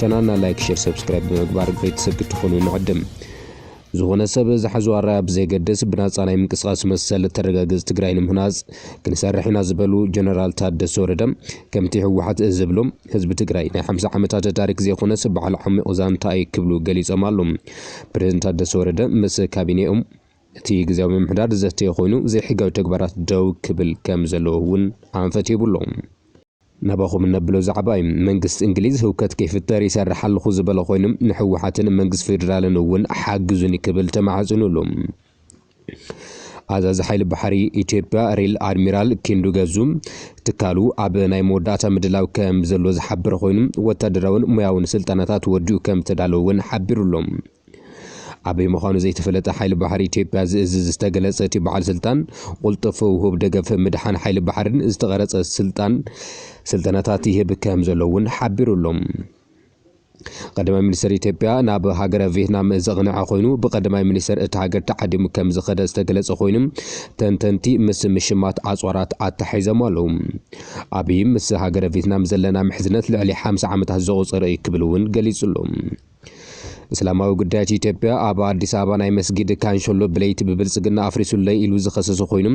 ቻናልና ላይክ ሼር ሰብስክራይብ ብምግባር ቤተሰብ ክትኾኑ ንዕድም። ዝኾነ ሰብ ዝሓዞ ኣራያ ብዘይገድስ ብናፃ ናይ ምንቅስቓስ መሰል እተረጋግፅ ትግራይ ንምህናፅ ክንሰርሕ ኢና ዝበሉ ጀነራል ታደሰ ወረደ ከምቲ ህወሓት ዝብሎ ህዝቢ ትግራይ ናይ ሓምሳ ዓመታት ታሪክ ዘይኮነስ በዓል ዓሚቕ ዛንታ እየ ክብሉ ገሊፆም ኣሉ። ፕሬዝደንት ታደሰ ወረደ ምስ ካቢኔኡ እቲ ግዜያዊ ምምሕዳር ዘተ ኮይኑ ዘይሕጋዊ ተግባራት ደው ክብል ከም ዘለዎ እውን ኣንፈት ሂቡ ኣሎ። ናባኹም እነብሎ ዛዕባ እዩ። መንግስቲ እንግሊዝ ህውከት ከይፍጠር ይሰርሕ ኣለኹ ዝበለ ኮይኑ ንሕወሓትን መንግስቲ ፌዴራልን እውን ሓግዙኒ ክብል ተማሕጺኑሉ። ኣዛዚ ሓይሊ ባሕሪ ኢትዮጵያ ሪል ኣድሚራል ኪንዱ ገዙ ትካሉ ኣብ ናይ መወዳእታ ምድላው ከምዘሎ ዝሓበረ ኮይኑ ወታደራውን ሞያውን ስልጠናታት ወዲኡ ከምዝተዳለወ እውን ሓቢሩ'ሎ። ኣበይ ምዃኑ ዘይተፈለጠ ሓይሊ ባሕሪ ኢትዮጵያ ዝእዝዝ ዝተገለጸ እቲ በዓል ስልጣን፣ ቁልጡፍ ውሁብ ደገፍ ምድሓን ሓይሊ ባሕሪን ዝተቐረጸ ስልጣን ስልጠናታት ይህብ ከም ዘሎ እውን ሓቢሩ ኣሎ። ቀዳማይ ሚኒስተር ኢትዮጵያ ናብ ሃገረ ቬትናም ዘቕነዐ ኮይኑ ብቀዳማይ ሚኒስተር እታ ሃገር ተዓዲሙ ከም ዝኸደ ዝተገለጸ ኮይኑ ተንተንቲ ምስ ምሽማት ኣጽዋራት ኣተሓሒዞም ኣለዉ። ኣብይ ምስ ሃገረ ቬትናም ዘለና ምሕዝነት ልዕሊ ሓምሳ ዓመታት ዘቑጸረ እዩ ክብል እውን ገሊጹ ኣሎ። እስላማዊ ጉዳያት ኢትዮጵያ ኣብ ኣዲስ ኣበባ ናይ መስጊድ ካንሸሎ ብለይቲ ብብልፅግና ኣፍሪሱለይ ኢሉ ዝኸሰሰ ኮይኑ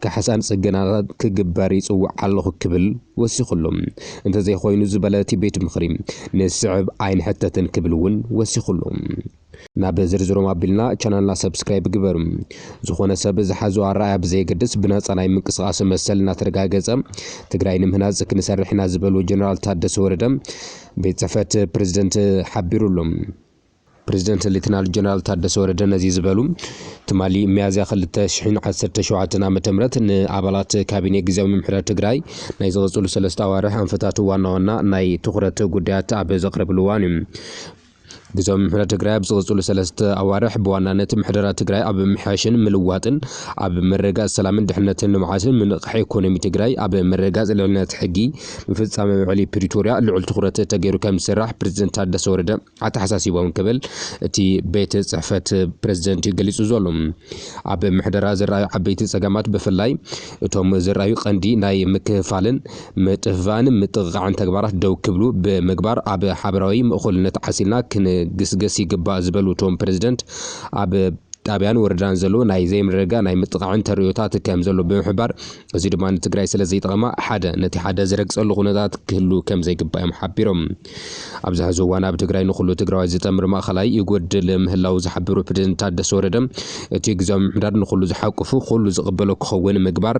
ካሕሳን ፅገናታት ክግበር ይፅውዕ ኣለኹ ክብል ወሲኹሉ። እንተዘይኾይኑ ዝበለ እቲ ቤት ምኽሪ ንዝስዕብ ኣይንሕተትን ክብል እውን ወሲኹሉ። ናብ ዝርዝሮም ኣቢልና ቻናልና ሰብስክራይብ ግበሩ። ዝኾነ ሰብ ዝሓዞ ኣረኣእያ ብዘየገድስ ብናፃ ናይ ምንቅስቓስ መሰል እናተረጋገፀ ትግራይ ንምህናፅ ክንሰርሕ ኢና ዝበሉ ጀነራል ታደሰ ወረደ ቤት ጽሕፈት ፕረዚደንት ሓቢሩ ኣሎ። ፕረዚደንት ሌተናል ጀነራል ታደሰ ወረደ ነዚ ዝበሉ፣ ትማሊ ሚያዝያ ክልተ ሽሕን ዓሰርተ ሸውዓተን ዓመተ ምህረት ንኣባላት ካቢኔ ግዝያዊ ምምሕዳር ትግራይ ናይ ዝቕጽሉ ሰለስተ ኣዋርሕ ኣንፈታት ዋና ዋና ናይ ትኹረት ጉዳያት ኣብ ዘቕረብሉ እዋን እዩ። ግዝያዊ ምምሕዳር ትግራይ ኣብ ዝቕፅሉ ሰለስተ ኣዋርሕ ብዋናነት ምሕደራ ትግራይ ኣብ ምምሕያሽን ምልዋጥን፣ ኣብ ምርግጋፅ ሰላምን ድሕንነትን ልምዓትን፣ ምንቕቓሕ ኢኮኖሚ ትግራይ፣ ኣብ ምርግጋፅ ልዕልነት ሕጊ፣ ምፍፃም ውዕሊ ፕሪቶርያ ልዑል ትኹረት ተገይሩ ከምዝስራሕ ፕረዚደንት ታደሰ ወረደ ኣተሓሳሲቦም ክብል እቲ ቤት ፅሕፈት ፕረዚደንት ገሊፁ ዘሎ። ኣብ ምሕደራ ዝረኣዩ ዓበይቲ ፀገማት ብፍላይ እቶም ዝርኣዩ ቀንዲ ናይ ምክፍፋልን ምጥፍፋእን ምጥቕቓዕን ተግባራት ደው ክብሉ ብምግባር ኣብ ሓበራዊ ምእኹልነት ዓሲልና ክንግስገስ ይግባእ ዝበሉ እቶም ፕረዚደንት፣ ኣብ ጣብያን ወረዳን ዘሎ ናይ ዘይምርግጋእ ናይ ምጥቓዕን ተርእዮታት ከምዘሎ ብምሕባር፣ እዚ ድማ ንትግራይ ስለዘይጠቕማ ሓደ ነቲ ሓደ ዝረግፀሉ ኩነታት ክህሉ ከምዘይግባእ እዮም ሓቢሮም። ኣብዚ ሕዚ እዋን ኣብ ትግራይ ንኹሉ ትግራዋይ ዝጠምር ማእኸላይ ይጎድል ምህላው ዝሓበሩ ፕሬዝደንት ታደሰ ወረደ እቲ ግዝያዊ ምምሕዳር ንኹሉ ዝሓቁፉ ኩሉ ዝቕበሎ ክኸውን ምግባር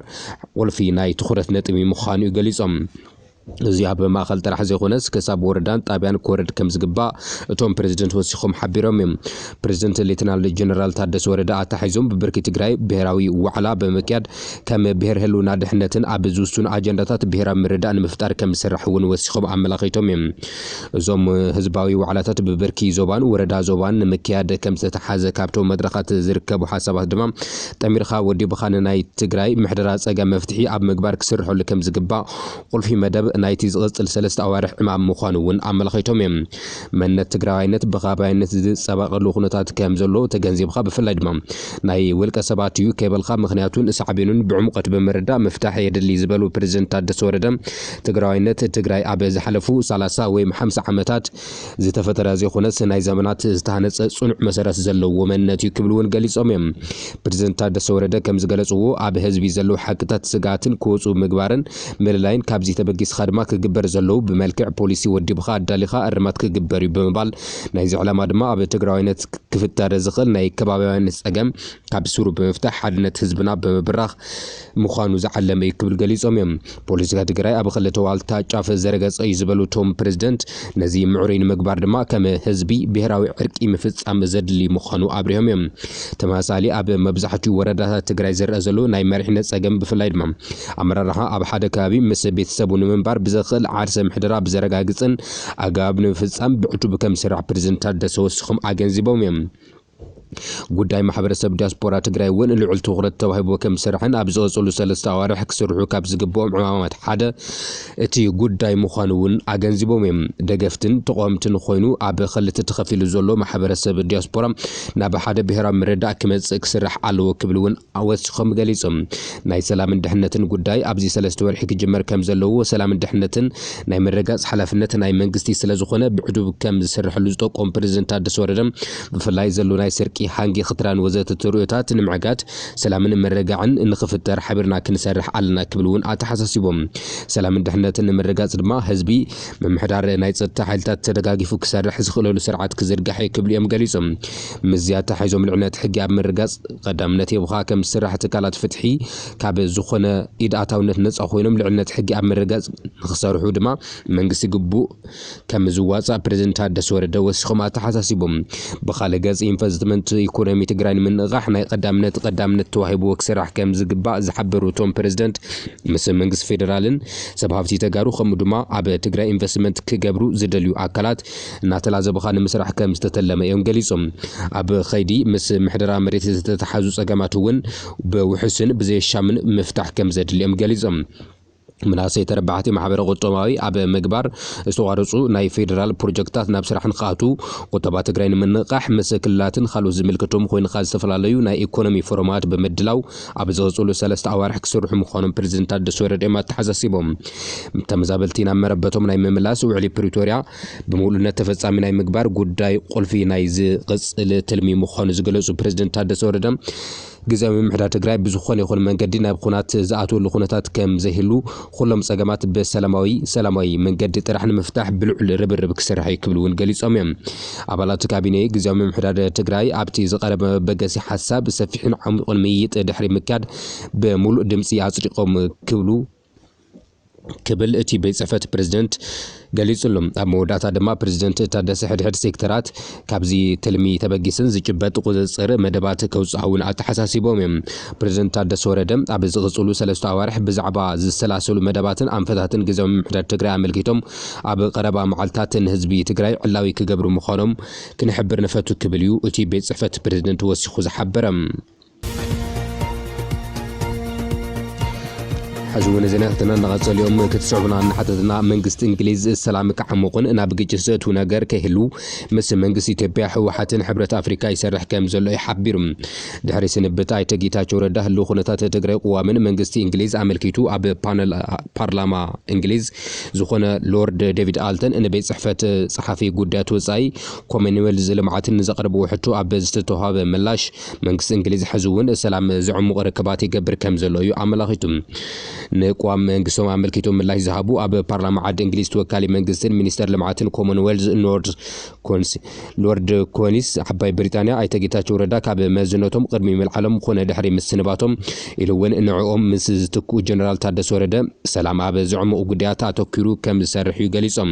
ቁልፊ ናይ ትኹረት ነጥቢ ምዃኑ ገሊፆም። እዚ ኣብ ማእኸል ጥራሕ ዘይኾነስ ክሳብ ወረዳን ጣብያን ክወርድ ከምዝግባእ እቶም ፕሬዝደንት ወሲኾም ሓቢሮም እዮም። ፕሬዝደንት ሌተናል ጀነራል ታደሰ ወረደ ኣተሓሒዞም ብብርኪ ትግራይ ብሄራዊ ዋዕላ ብምክያድ ከም ብሄር ህልውና ድሕነትን ኣብ ዝውሱን ኣጀንዳታት ብሄራዊ ምርድዳእ ንምፍጣር ከምዝስራሕ እውን ወሲኾም ኣመላኺቶም እዮም። እዞም ህዝባዊ ዋዕላታት ብብርኪ ዞባን ወረዳ ዞባን ንምክያድ ከምዝተትሓዘ ካብቶም መድረኻት ዝርከቡ ሓሳባት ድማ ጠሚርኻ ወዲብኻ ንናይ ትግራይ ምሕደራ ፀገም መፍትሒ ኣብ ምግባር ክስርሐሉ ከምዝግባእ ቁልፊ መደብ ናይቲ ዝቕፅል ሰለስተ ኣዋርሕ ዕማም ምዃኑ እውን ኣመላኺቶም እዮም። መንነት ትግራዋይነት ብኸባቢያዊነት ዝፀባቐሉ ኩነታት ከምዘሎ ተገንዚብኻ ብፍላይ ድማ ናይ ውልቀ ሰባት እዩ ከይበልካ ምኽንያቱን ሳዕቤኑን ብዕሙቀት ብምርዳእ ምፍታሕ የድሊ ዝበሉ ፕረዚደንት ታደሰ ወረደ ትግራዋይነት ትግራይ ኣብ ዝሓለፉ ሰላሳ ወይም ሓምሳ ዓመታት ዝተፈጠረ ዘይኾነስ ናይ ዘመናት ዝተሃነፀ ፅኑዕ መሰረት ዘለዎ መንነት እዩ ክብሉ እውን ገሊፆም እዮም። ፕረዚደንት ታደሰ ወረደ ከምዝገለፅዎ ኣብ ህዝቢ ዘለው ሓቅታት ስግኣትን ክወፁ ምግባርን ምልላይን ካብዚ ተበጊስኻ ድማ ክግበር ዘለው ብመልክዕ ፖሊሲ ወዲብኻ ኣዳሊኻ እርማት ክግበር እዩ ብምባል ናይዚ ዕላማ ድማ ኣብ ትግራዋይነት ክፍጠር ዝኽእል ናይ ከባብያውያን ፀገም ካብ ሱሩ ብምፍታሕ ሓድነት ህዝብና ብምብራኽ ምዃኑ ዝዓለመ እዩ ክብል ገሊፆም እዮም። ፖለቲካ ትግራይ ኣብ ኽልተ ዋልታ ጫፍ ዝረገፀ እዩ ዝበሉ እቶም ፕሬዝደንት ነዚ ምዕሩይ ንምግባር ድማ ከም ህዝቢ ብሄራዊ ዕርቂ ምፍፃም ዘድሊ ምዃኑ ኣብሪሆም እዮም። ተመሳሳሊ ኣብ መብዛሕቲኡ ወረዳታት ትግራይ ዝረኣ ዘሎ ናይ መሪሕነት ፀገም ብፍላይ ድማ ኣመራርሓ ኣብ ሓደ ከባቢ ምስ ቤተሰቡ ንምንባር ብዘኽእል ዓርሰ ምሕደራ ብዘረጋግፅን ኣገባብ ንምፍፃም ብዕቱብ ከምዝስራሕ ፕረዚደንት ታደሰ ወሲኾም ኣገንዚቦም እዮም። ጉዳይ ማሕበረሰብ ዲያስፖራ ትግራይ እውን ልዑል ትኹረት ተዋሂብዎ ከምዝስራሕን ኣብ ዝቐፀሉ ሰለስተ ኣዋርሕ ክስርሑ ካብ ዝግበኦም ዕማማት ሓደ እቲ ጉዳይ ምዃኑ እውን ኣገንዚቦም እዮም። ደገፍትን ተቓወምትን ኾይኑ ኣብ ኸልተ ተኸፊሉ ዘሎ ማሕበረሰብ ዲያስፖራ ናብ ሓደ ብሄራዊ ምርድዳእ ክመፅእ ክስራሕ ኣለዎ ክብል እውን ወሲኾም ገሊፆም። ናይ ሰላምን ድሕነትን ጉዳይ ኣብዚ ሰለስተ ወርሒ ክጅመር ከም ዘለዎ ሰላምን ድሕነትን ናይ ምርግጋፅ ሓላፍነት ናይ መንግስቲ ስለ ዝኾነ ብዕዱብ ከም ዝስረሐሉ ዝጠቆሙ ፕረዚደንት ታደሰ ወረደ ብፍላይ ዘሎ ናይ ስርቂ፣ ሃንጊ፣ ክትራን ወዘተ ተርእዮታት ንምዕጋት ሰላምን ምርግጋዕን ንኽፍጠር ሓቢርና ክንሰርሕ ኣለና ክብል እውን ኣተሓሳሲቦም። ሰላምን ድሕነትን ንምርግጋፅ ድማ ህዝቢ፣ ምምሕዳር፣ ናይ ፀጥታ ሓይልታት ተደጋጊፉ ክሰርሕ ዝኽእለሉ ስርዓት ክዝርጋሕ ኢዩ ክብሉ ኢዮም ገሊፆም። ምስዚ ኣተሓሒዞ ምልዕነት ሕጊ ኣብ ምርጋጽ ቐዳምነት ሂብኻ ከም ዝስራሕ ትካላት ፍትሒ ካብ ዝኾነ ኢድ ኣታውነት ነጻ ኮይኖም ልዕልነት ሕጊ ኣብ ምርጋጽ ንኽሰርሑ ድማ መንግስቲ ግቡእ ከም ዝዋጻእ ፕረዚደንት ታደሰ ወረደ ወሲኾም ኣተሓሳሲቦም። ብኻልእ ገጽ ኢንቨስትመንት ኢኮኖሚ ትግራይ ንምንቕቓሕ ናይ ቐዳምነት ቐዳምነት ተዋሂብዎ ክስራሕ ከም ዝግባእ ዝሓበሩ እቶም ፕረዚደንት ምስ መንግስቲ ፌደራልን ሰብ ሃፍቲ ተጋሩ ከምኡ ድማ ኣብ ትግራይ ኢንቨስትመንት ክገብሩ ዝደልዩ ኣካላት እናተላዘቡኻ ንምስራሕ ከም ዝተተለመ እዮም ገሊፆም። ኣብ ኸይዲ ምስ ምሕደራ መሬት ዝተተሓዙ ፀገማት እውን ብውሑስን ብዘየሻምን ምፍታሕ ከም ዘድሊ እዮም ገሊፆም። መናእሰይ ተረባሕቲ ማሕበረ ቁጠባዊ ኣብ ምግባር ዝተቋረፁ ናይ ፌዴራል ፕሮጀክትታት ናብ ስራሕ ንክኣትዉ፣ ቁጠባ ትግራይ ንምንቕቓሕ ምስ ክልላትን ካልኦት ዝምልከቶም ኾይንኻ ዝተፈላለዩ ናይ ኢኮኖሚ ፎረማት ብምድላው ኣብ ዝቕፅሉ ሰለስተ ኣዋርሕ ክስርሑ ምዃኖም ፕረዚደንት ታደሰ ወረደ እዮም ኣተሓሳሲቦም። ተመዛበልቲ ናብ መረበቶም ናይ ምምላስ ውዕሊ ፕሪቶርያ ብሙሉእነት ተፈፃሚ ናይ ምግባር ጉዳይ ቁልፊ ናይ ዝቕፅል ትልሚ ምዃኑ ዝገለፁ ፕረዚደንት ታደሰ ወረደ ግዝያዊ ምምሕዳር ትግራይ ብዝኾነ ይኹን መንገዲ ናብ ኹናት ዝኣትወሉ ኩነታት ከምዘይህሉ ኹሎም ፀገማት ብሰላማዊ፣ ሰላማዊ፣ መንገዲ ጥራሕ ንምፍታሕ ብልዑል ርብርብ ክስራሕ ኢዩ ክብሉ እውን ገሊፆም ኢዮም። ኣባላት ካቢኔ ግዝያዊ ምምሕዳር ትግራይ ኣብቲ ዝቐረበ መበገሲ ሓሳብ ሰፊሕን ዓሚቑን ምይይጥ ድሕሪ ምክያድ ብሙሉእ ድምፂ ኣፅዲቖም ክብሉ ክብል እቲ ቤት ፅሕፈት ፕረዚደንት ገሊጹ'ሎ። ኣብ መወዳእታ ድማ ፕረዚደንት ታደሰ ሕድሕድ ሴክተራት ካብዚ ትልሚ ተበጊስን ዝጭበጥ ቁጽጽር መደባት ከውጽኣ'ውን ኣተሓሳሲቦም'ዮም። ፕረዚደንት ታደሰ ወረደ ኣብ ዝቕጽሉ ሰለስተ ኣዋርሕ ብዛዕባ ዝሰላሰሉ መደባትን ኣንፈታትን ግዝያዊ ምምሕዳር ትግራይ ኣመልኪቶም ኣብ ቐረባ መዓልታት ንህዝቢ ትግራይ ዕላዊ ክገብሩ ምዃኖም ክንሕብር ንፈቱ ክብል'ዩ እቲ ቤት ጽሕፈት ፕረዚደንት ወሲኹ ዝሓበረ። ሕዚ እውን ዜናታትና እናቐጸሉ እዮም ክትስዕቡና እናሓተትና መንግስቲ እንግሊዝ ሰላም ክዓሙቕን ናብ ግጭት ዘእትው ነገር ከይህሉ ምስ መንግስቲ ኢትዮጵያ ህወሓትን ሕብረት ኣፍሪካ ይሰርሕ ከም ዘሎ እዩ ሓቢሩ ድሕሪ ስንብት ኣይተ ጌታቸው ረዳ ህልው ኩነታት ትግራይ ቅዋምን መንግስቲ እንግሊዝ ኣመልኪቱ ኣብ ፓነል ፓርላማ እንግሊዝ ዝኾነ ሎርድ ዴቪድ ኣልተን ንቤት ፅሕፈት ፀሓፊ ጉዳያት ወፃኢ ኮመንዌልዝ ልምዓትን ንዘቕርብዎ ሕቶ ኣብ ዝተተዋሃበ ምላሽ መንግስቲ እንግሊዝ ሕዚ'ውን ሰላም ዘዕሙቕ ርክባት ይገብር ከምዘሎ እዩ ኣመላኺቱ። ንቅዋም መንግስቶም ኣመልኪቶም ምላሽ ዝሃቡ ኣብ ፓርላማ ዓዲ እንግሊዝ ተወካሊ መንግስትን ሚኒስተር ልምዓትን ኮመንዌልዝ ኖርድ ኮንስ ሎርድ ኮኒስ ዓባይ ብሪጣንያ ኣይተ ጌታቸው ረዳ ካብ መዝነቶም ቅድሚ ምልዓሎም ኮነ ድሕሪ ምስንባቶም ኢሉ'ውን ንዕኦም ምስ ዝትክኡ ጀነራል ታደሰ ወረደ ሰላም ኣብ ዘዕሙቕ ጉዳያት ኣተኲሩ ከምዝሰርሕ እዩ ገሊጾም።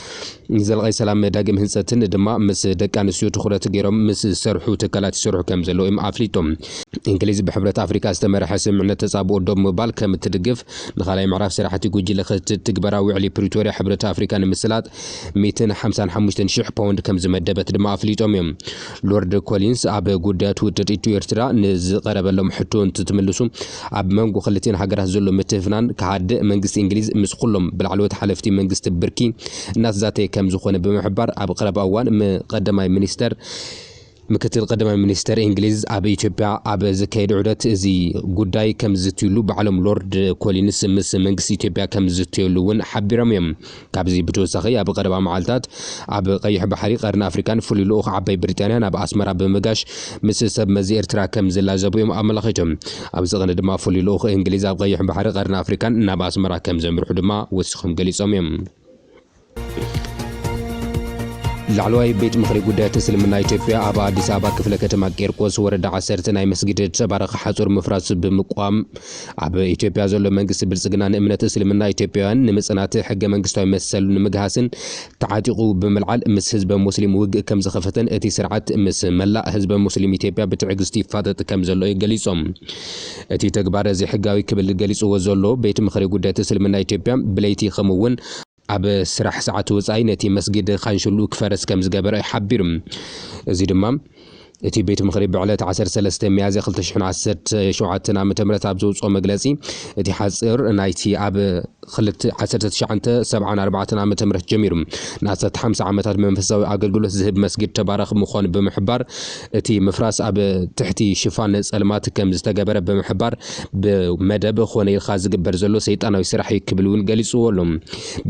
ንዘላቒ ሰላም ዳግም ህንፀትን ድማ ምስ ደቂ ኣንስትዮ ትኹረት ገይሮም ምስ ዝሰርሑ ትካላት ይሰርሑ ከም ዘለዉ እዮም ኣፍሊጦም። እንግሊዝ ብሕብረት ኣፍሪካ ዝተመርሐ ስምምዕነት ተፃብኦ ደው ምባል ከም እትድግፍ ንካልኣይ ምዕራፍ ስራሕቲ ጉጅለ ክትትል ትግበራ ውዕሊ ፕሪቶርያ ሕብረት ኣፍሪካ ንምስላጥ ሚእትን ሓምሳን ሓሙሽተን ሽሕ ፓውንድ ከም ዝመደበት ድማ ኣፍሊጦም እዮም። ሎርድ ኮሊንስ ኣብ ጉዳያት ውጥጥ ኢትዮ ኤርትራ ንዝቐረበሎም ሕቶ እንትትምልሱ፣ ኣብ መንጎ ክልቲኤን ሃገራት ዘሎ ምትፍናን ክሃድእ መንግስቲ እንግሊዝ ምስ ኹሎም ብላዕለዎት ሓለፍቲ መንግስቲ ብርኪ እናተዛተየ ከምዝኾነ ብምሕባር ኣብ ቐረባ እዋን ም ቐዳማይ ሚኒስተር ምክትል ቐዳማይ ሚኒስተር እንግሊዝ ኣብ ኢትዮጵያ ኣብ ዘካየድኦ ዑደት እዚ ጉዳይ ከምዝዝትዩሉ ባዕሎም ሎርድ ኮሊንስ ምስ መንግስቲ ኢትዮጵያ ከምዝዝተዩሉ እውን ሓቢሮም እዮም። ካብዚ ብተወሳኺ ኣብ ቐረባ መዓልታት ኣብ ቐይሕ ባሕሪ ቐርኒ ኣፍሪቃን ፍሉይ ልኡኽ ዓባይ ብሪጣንያ ናብ ኣስመራ ብምጋሽ ምስ ሰብ መዚ ኤርትራ ከም ዝላዘቡ እዮም ኣመላኺቶም። ኣብዚ ቕኒ ድማ ፍሉይ ልኡኽ እንግሊዝ ኣብ ቐይሕ ባሕሪ ቐርኒ ኣፍሪቃን ናብ ኣስመራ ከም ዘምርሑ ድማ ወሲኾም ገሊጾም እዮም። ላዕለዋይ ቤት ምኽሪ ጉዳያት እስልምና ኢትዮጵያ ኣብ ኣዲስ ኣበባ ክፍለ ከተማ ቂርቆስ ወረዳ ዓሰርተ ናይ መስጊድ ተባረኽ ሓፁር ምፍራስ ብምቋም ኣብ ኢትዮጵያ ዘሎ መንግስቲ ብልፅግና ንእምነት እስልምና ኢትዮጵያውያን ንምፅናት ሕገ መንግስታዊ መሰሉ ንምግሃስን ተዓጢቑ ብምልዓል ምስ ህዝበ ሙስሊም ውግእ ከምዝኸፈተን እቲ ስርዓት ምስ መላእ ህዝበ ሙስሊም ኢትዮጵያ ብትዕግስቲ ይፋጠጥ ከምዘሎ እዩ ገሊፆም። እቲ ተግባር ዘይሕጋዊ ክብል ገሊፅዎ ዘሎ ቤት ምኽሪ ጉዳያት እስልምና ኢትዮጵያ ብለይቲ ከምኡ እውን ኣብ ስራሕ ሰዓት ወጻኢ ነቲ መስጊድ ኻንሽሉ ክፈርስ ከም ዝገበረ ሓቢሩ። እዚ ድማ እቲ ቤት ምኽሪ ብዕለት ዓሰርተ ሰለስተ ሚያዝያ ክልተ ሽሕን ዓሰርተ ሸውዓተን ዓመተ ምህረት ኣብ ዘውጽኦ መግለጺ እቲ ሓጽር ናይቲ ኣብ ክልተ ዓሰርተ ትሽዓተ ሰብዓን ኣርባዕተን ዓመተ ምህረት ጀሚሩ ንኣስታት ሓምሳ ዓመታት ብመንፈሳዊ ኣገልግሎት ዝህብ መስጊድ ተባራኺ ምዃኑ ብምሕባር እቲ ምፍራስ ኣብ ትሕቲ ሽፋን ፀልማት ከም ዝተገበረ ብምሕባር ብመደብ ኾነ ኢልካ ዝግበር ዘሎ ሰይጣናዊ ስራሕ እዩ ክብል እውን ገሊፁዎ ኣሎ።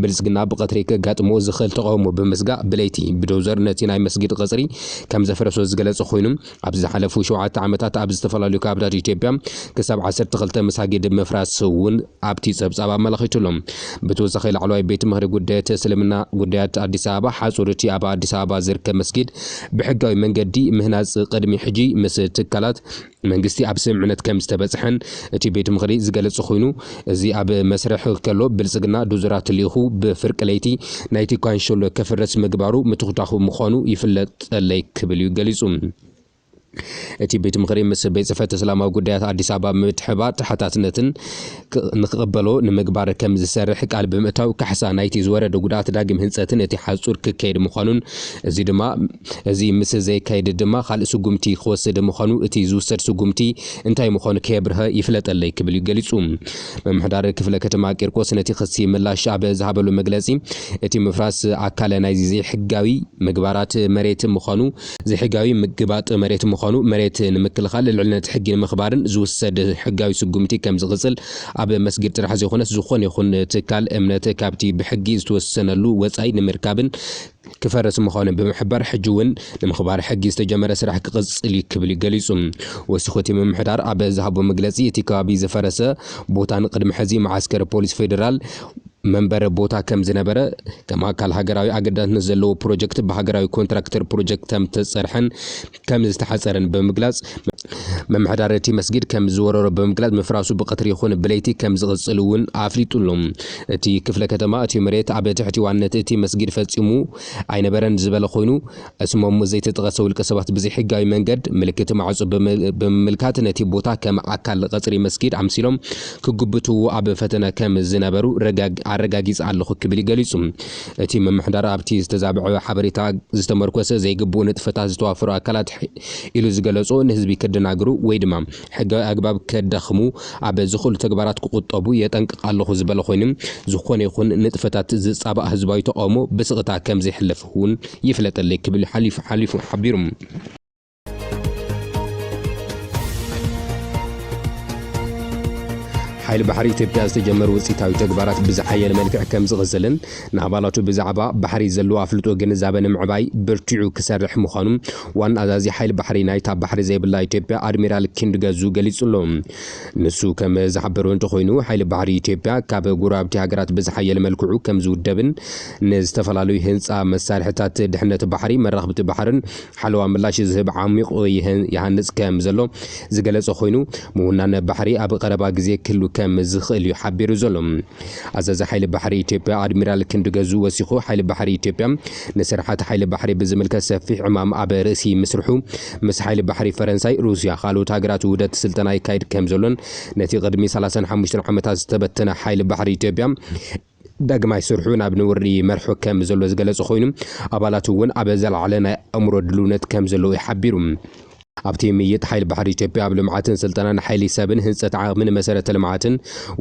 ብልፅግና ብቐትሪ ከጋጥሞ ዝኽእል ተቓውሞ ብምስጋእ ብለይቲ ብዶዘር ነቲ ናይ መስጊድ ቐፅሪ ከም ዘፍረሶ ዝገለፀ ኾይኑ ኣብ ዝሓለፉ ሸውዓተ ዓመታት ኣብ ዝተፈላለዩ ከባብታት ኢትዮጵያ ክሳብ ዓሰርተ ክልተ መሳጊድ ምፍራስ እውን ኣብቲ ፀብፃብ ኣመላኺቱ ኣሎ። ብተወሳኺ ላዕለዋይ ቤት ምኽሪ ጉዳያት እስልምና ጉዳያት ኣዲስ ኣበባ ሓፁር እቲ ኣብ ኣዲስ ኣበባ ዝርከብ መስጊድ ብሕጋዊ መንገዲ ምህናፅ ቕድሚ ሕጂ ምስ ትካላት መንግስቲ ኣብ ስምምዕነት ከምዝተበፅሐን እቲ ቤት ምኽሪ ዝገለፀ ኾይኑ እዚ ኣብ መስርሕ ከሎ ብልፅግና ዶዘራት ልኢኹ ብፍርቂ ለይቲ ናይቲ ካንሸሎ ከፍርስ ምግባሩ ምትኹታኹ ምዃኑ ይፍለጠለይ ክብል ዩ ገሊፁ። እቲ ቤት ምኽሪ ምስ ቤት ፅሕፈት እስላማዊ ጉዳያት ኣዲስ ኣበባ ብምትሕብባር ተሓታትነትን ንክቕበሎ ንምግባር ከም ዝሰርሕ ቃል ብምእታው፣ ካሕሳ ናይቲ ዝወረደ ጉድኣት ዳግም ህንጸትን እቲ ሓጹር ክከየድ ምዃኑን እዚ ድማ እዚ ምስ ዘይካየድ ድማ ካልእ ስጉምቲ ክወስድ ምዃኑ እቲ ዝውሰድ ስጉምቲ እንታይ ምዃኑ ከየብርሀ ይፍለጠለይ ክብል እዩ ገሊጹ። ምምሕዳር ክፍለ ከተማ ቂርቆስ ነቲ ክሲ ምላሽ ኣብ ዝሃበሉ መግለጺ እቲ ምፍራስ ኣካል ናይዚ ዘይሕጋዊ ምግባራት መሬት ምዃኑ ዘይሕጋዊ ምግባጥ መሬት ምዃኑ፣ መሬት ንምክልኻል፣ ልዕልነት ሕጊ ንምኽባርን ዝውሰድ ሕጋዊ ስጉምቲ ከም ዝቕጽል፣ ኣብ መስጊድ ጥራሕ ዘይኮነስ ዝኾነ ይኹን ትካል እምነት ካብቲ ብሕጊ ዝተወሰነሉ ወጻኢ ንምርካብን ክፈርስ ምዃኑ ብምሕባር፣ ሕጂ እውን ንምኽባር ሕጊ ዝተጀመረ ስራሕ ክቕጽል እዩ ክብል እዩ ገሊጹ። ወሲኹ እቲ ምምሕዳር ኣብ ዝሃቦ መግለጺ፣ እቲ ከባቢ ዝፈረሰ ቦታን ቅድሚ ሕዚ መዓስከር ፖሊስ ፌደራል፣ መንበረ ቦታ ከም ዝነበረ፣ ከም ኣካል ሃገራዊ ኣገዳስነት ዘለዎ ፕሮጀክት ብሃገራዊ ኮንትራክተር ፕሮጀክት ከም ዝተጸርሐን ከም ዝተሓጸረን ብምግላጽ፣ ምምሕዳር እቲ መስጊድ ከም ዝወረሮ ብምግላጽ ምፍራሱ ብቐትሪ ይኹን ብለይቲ ከም ዝቕጽል እውን ኣፍሊጡ ኣሎ። እቲ ክፍለ ከተማ እቲ መሬት ኣብ ትሕቲ ዋንነት እቲ መስጊድ ፈጺሙ ኣይነበረን ዝበለ ኮይኑ፣ ስሞም ዘይተጠቐሰ ውልቀ ሰባት ብዘይሕጋዊ መንገድ ምልክት ማዕጾ ብምምልካት ነቲ ቦታ ከም ኣካል ቐጽሪ መስጊድ ኣምሲሎም ክጉብትዎ ኣብ ፈተነ ከም ዝነበሩ ኣረጋጊጸ ኣለኹ ክብል ገሊጹ። እቲ ምምሕዳር ኣብቲ ዝተዛብዐ ሓበሬታ ዝተመርኮሰ ዘይግቡእ ንጥፈታት ዝተዋፈሩ ኣካላት ኢሉ ዝገለጾ ንህዝቢ ከደናግሩ ወይ ድማ ሕጋዊ ኣግባብ ከዳኽሙ ኣብ ዝኽእሉ ተግባራት ክቑጠቡ የጠንቅቕ ኣለኹ ዝበለ ኮይኑ፣ ዝኾነ ይኹን ንጥፈታት ዝጻባእ ህዝባዊ ተቓውሞ ብስቕታ ከም ዘይሕለፍ። እውን ይፍለጠለይ ክብል ሓሊፉ ሓሊፉ ሓቢሩ። ሓይሊ ባሕሪ ኢትዮጵያ ዝተጀመሩ ውፅኢታዊ ተግባራት ብዝሓየለ መልክዕ ከም ዝቕፅልን ንኣባላቱ ብዛዕባ ባሕሪ ዘለዎ ኣፍልጦ ግንዛበ ንምዕባይ ብርቲዑ ክሰርሕ ምዃኑ ዋና ኣዛዚ ሓይሊ ባሕሪ ናይታ ባሕሪ ዘይብላ ኢትዮጵያ ኣድሚራል ክንድ ገዙ ገሊጹ ኣሎ። ንሱ ከም ዝሓበሮ እንተኾይኑ፣ ሓይሊ ባሕሪ ኢትዮጵያ ካብ ጎረባብቲ ሃገራት ብዝሓየለ መልክዑ ከም ዝውደብን ንዝተፈላለዩ ህንጻ መሳርሒታት ድሕነት ባሕሪ፣ መራኽብቲ ባሕርን ሓለዋ ምላሽ ዝህብ ዓሚቕ ይሃንጽ ከም ዘሎ ዝገለጸ ኮይኑ፣ ምውናን ባሕሪ ኣብ ቐረባ ግዜ ክህሉ ከም ዝኽእል እዩ ሓቢሩ ዘሎ። ኣዛዚ ሓይሊ ባሕሪ ኢትዮጵያ ኣድሚራል ክንድ ገዙ ወሲኹ፣ ሓይሊ ባሕሪ ኢትዮጵያ ንስርሓት ሓይሊ ባሕሪ ብዝምልከት ሰፊሕ ዕማም ኣብ ርእሲ ምስርሑ ምስ ሓይሊ ባሕሪ ፈረንሳይ፣ ሩስያ፣ ካልኦት ሃገራት ውህደት ስልጠና ይካየድ ከምዘሎን ነቲ ቅድሚ ሰላሳን ሓሙሽተን ዓመታት ዝተበተነ ሓይሊ ባሕሪ ኢትዮጵያ ዳግማይ ስርሑ ናብ ንቡር ይመርሖ ከምዘሎ ዝገለጸ ኮይኑ፣ ኣባላቱ እውን ኣብ ዝለዓለ ናይ ኣእምሮ ድልውነት ከምዘለዉ እዩ ሓቢሩ። ኣብቲ ምይይጥ፣ ሓይሊ ባሕሪ ኢትዮጵያ ኣብ ልምዓትን ስልጠናን ሓይሊ ሰብን ህንጸት ዓቕሚን መሰረተ ልምዓትን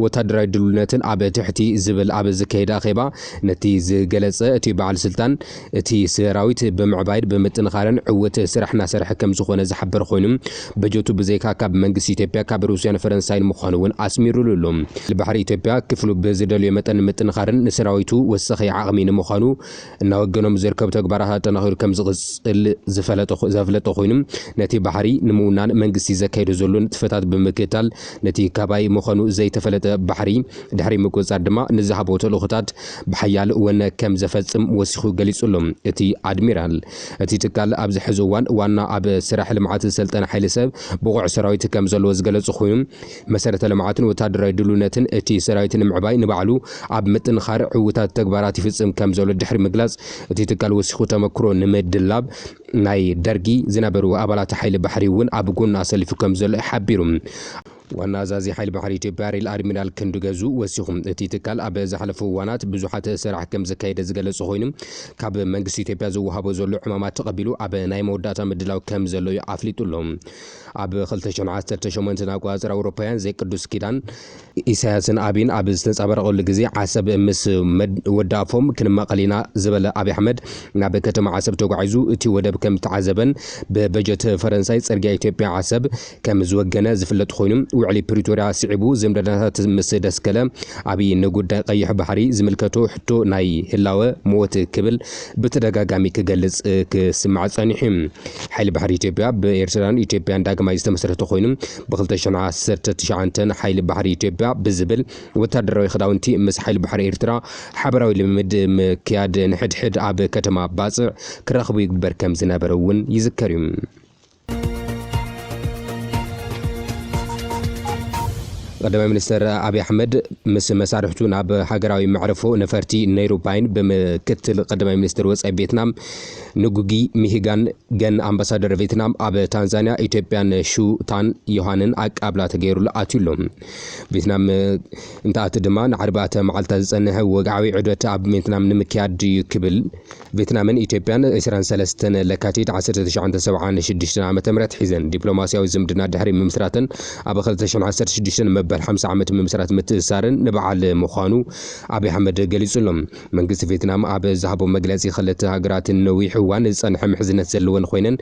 ወተሃደራዊ ድልውነትን ኣብ ትሕቲ ዝብል ኣብ ዘካየደ ኣኼባ ነቲ ዝገለጸ እቲ በዓል ስልጣን፣ እቲ ሰራዊት ብምዕባይድ ብምጥንኻረን ዕውት ስራሕ እናሰርሐ ከምዝኾነ ዝሓበር ኾይኑ በጀቱ ብዘይካ ካብ መንግስቲ ኢትዮጵያ ካብ ሩስያን ፈረንሳይን ምዃኑ እውን ኣስሚሩሉ ኣሎ። ሓይሊ ባሕሪ ኢትዮጵያ ክፍሉ ብዝደልዮ መጠን ንምጥንኻርን ንሰራዊቱ ወሳኺ ዓቕሚ ንምዃኑ እናወገኖም ዝርከቡ ተግባራት ኣጠናኺሩ ከምዝቕፅል ዘፍለጠ ኾይኑ ነቲ ባሕሪ ንምውናን መንግስቲ ዘካይዶ ዘሎ ንጥፈታት ብምክታል ነቲ ካባይ ምዃኑ ዘይተፈለጠ ባሕሪ ድሕሪ ምቁፅፃር ድማ ንዝሃቦ ተልእኾታት ብሓያል ወነ ከም ዘፈጽም ወሲኹ ገሊጹ'ሎ እቲ ኣድሚራል። እቲ ትካል ኣብዚ ሕዚ እዋን ዋና ኣብ ስራሕ ልምዓት ዝሰልጠነ ሓይሊ ሰብ ብቑዕ ሰራዊት ከም ዘለዎ ዝገለጹ ኮይኑ፣ መሰረተ ልምዓትን ወተሃደራዊ ድልውነትን እቲ ሰራዊት ንምዕባይ ንባዕሉ ኣብ ምጥንኻር ዕውታት ተግባራት ይፍጽም ከም ዘሎ ድሕሪ ምግላጽ እቲ ትካል ወሲኹ ተመክሮ ንምድላብ ናይ ደርጊ ዝነበሩ ኣባላት ሓይሊ ባሕሪ'ውን ኣብ ጎኑ ኣሰሊፉ ከም ዘሎ ሓቢሩ። ዋና ኣዛዚ ሓይሊ ባሕሪ ኢትዮጵያ ሪል ኣድሚራል ክንዱ ገዙ ወሲኹ፣ እቲ ትካል ኣብ ዝሓለፉ እዋናት ብዙሓት ስራሕ ከምዘካየደ ዝገለፀ ኮይኑ፣ ካብ መንግስቲ ኢትዮጵያ ዝወሃቦ ዘሎ ዕማማት ተቐቢሉ ኣብ ናይ መወዳእታ ምድላው ከምዘሎ እዩ ኣፍሊጡ ኣሎ። ኣብ ክልተ ሽሕን ዓሰርተ ሸሞንተን ኣቆፃፅራ ኣውሮፓውያን ዘይቅዱስ ኪዳን፣ ኢሳያስን ኣብይን ኣብ ዝተንፀባረቐሉ ግዜ ዓሰብ ምስ ወዳፎም ክንማቐል ኢና ዝበለ ኣብይ ኣሕመድ ናብ ከተማ ዓሰብ ተጓዒዙ እቲ ወደብ ከምተዓዘበን ብበጀት ፈረንሳይ ፅርግያ ኢትዮጵያ ዓሰብ ከም ዝወገነ ዝፍለጥ ኮይኑ፣ ውዕሊ ፕሪቶርያ ስዒቡ ዝምድናታት ምስ ደስከለ፣ ኣብይ ንጉዳይ ቀይሕ ባሕሪ ዝምልከቶ ሕቶ ናይ ህላወ ሞት ክብል ብተደጋጋሚ ክገልጽ ክስማዕ ጸኒሑ እዩ። ሓይሊ ባሕሪ ኢትዮጵያ ብ ኤርትራን ኢትዮጵያን ዳግማይ ዝተመስረተ ኮይኑ፣ ብ ክልተ ሽሕ ዓሰርተ ትሽዓተ ሓይሊ ባሕሪ ኢትዮጵያ ብዝብል ወተሃደራዊ ክዳውንቲ ምስ ሓይሊ ባሕሪ ኤርትራ ሓበራዊ ልምምድ ምክያድ ንሕድሕድ ኣብ ከተማ ባጽዕ ክራኽቡ ይግበር ከም ዝነበረ እውን ይዝከር እዩ። ቀዳማይ ሚኒስተር ኣብዪ ኣሕመድ ምስ መሳርሕቱ ናብ ሃገራዊ መዕርፎ ነፈርቲ ነይሩባይን ብምክትል ቀዳማይ ሚኒስትር ወፃኢ ቬትናም ንጉጊ ሚሂጋን ገን ኣምባሳደር ቬትናም ኣብ ታንዛንያ ኢትዮጵያን ሹታን ዮሃንን ኣቃብላ ተገይሩሉ ኣትዩ ኣሎ ቬትናም እንትኣቲ ድማ ንዓርባዕተ መዓልትታት ዝፀንሐ ወግዓዊ ዑደት ኣብ ቬትናም ንምክያድ እዩ ክብል ቬትናምን ኢትዮጵያን ዕስራን ሰለስተን ለካቲት ዓሰርተ ትሽዓን ሰብዓን ሽዱሽተን ዓመተ ምህረት ሒዘን ዲፕሎማስያዊ ዝምድና ድሕሪ ምምስራተን ኣብ ክልተ ሽሕን ዓሰርተ ሽዱሽተን መበል ሓምሳ ዓመት ምምስራት ምትእስሳረን ንበዓል ምዃኑ ኣብይ ኣሕመድ ገሊጹ ኣሎ። መንግስቲ ቬትናም ኣብ ዝሃቦ መግለጺ ክልተ ሃገራት ንነዊሕ እዋን ዝጸንሐ ምሕዝነት ዘለወን ኾይነን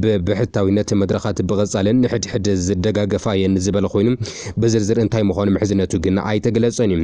ብብሕታዊነት መድረኻት ብቐጻልን ንሕድሕድ ዝደጋገፋ እየን ዝበለ ኾይኑ ብዝርዝር እንታይ ምዃኑ ምሕዝነቱ ግን ኣይተገለጸን እዩ።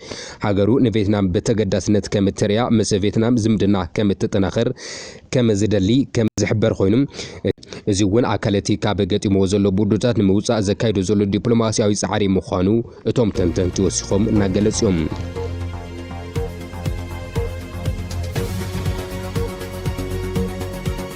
ሃገሩ ንቬትናም ብተገዳስነት ከም እተርእያ ምስ ቬትናም ዝምድና ከም እተጠናኽር ከም ዝደሊ ከም ዝሕበር ኮይኑ፣ እዚ'ውን ኣካል እቲ ካብ ገጢምዎ ዘሎ ብርዱታት ንምውጻእ ዘካይዶ ዘሎ ዲፕሎማስያዊ ጻዕሪ ምዃኑ እቶም ተንተንቲ ወሲኾም እናገለጹ'ዮም።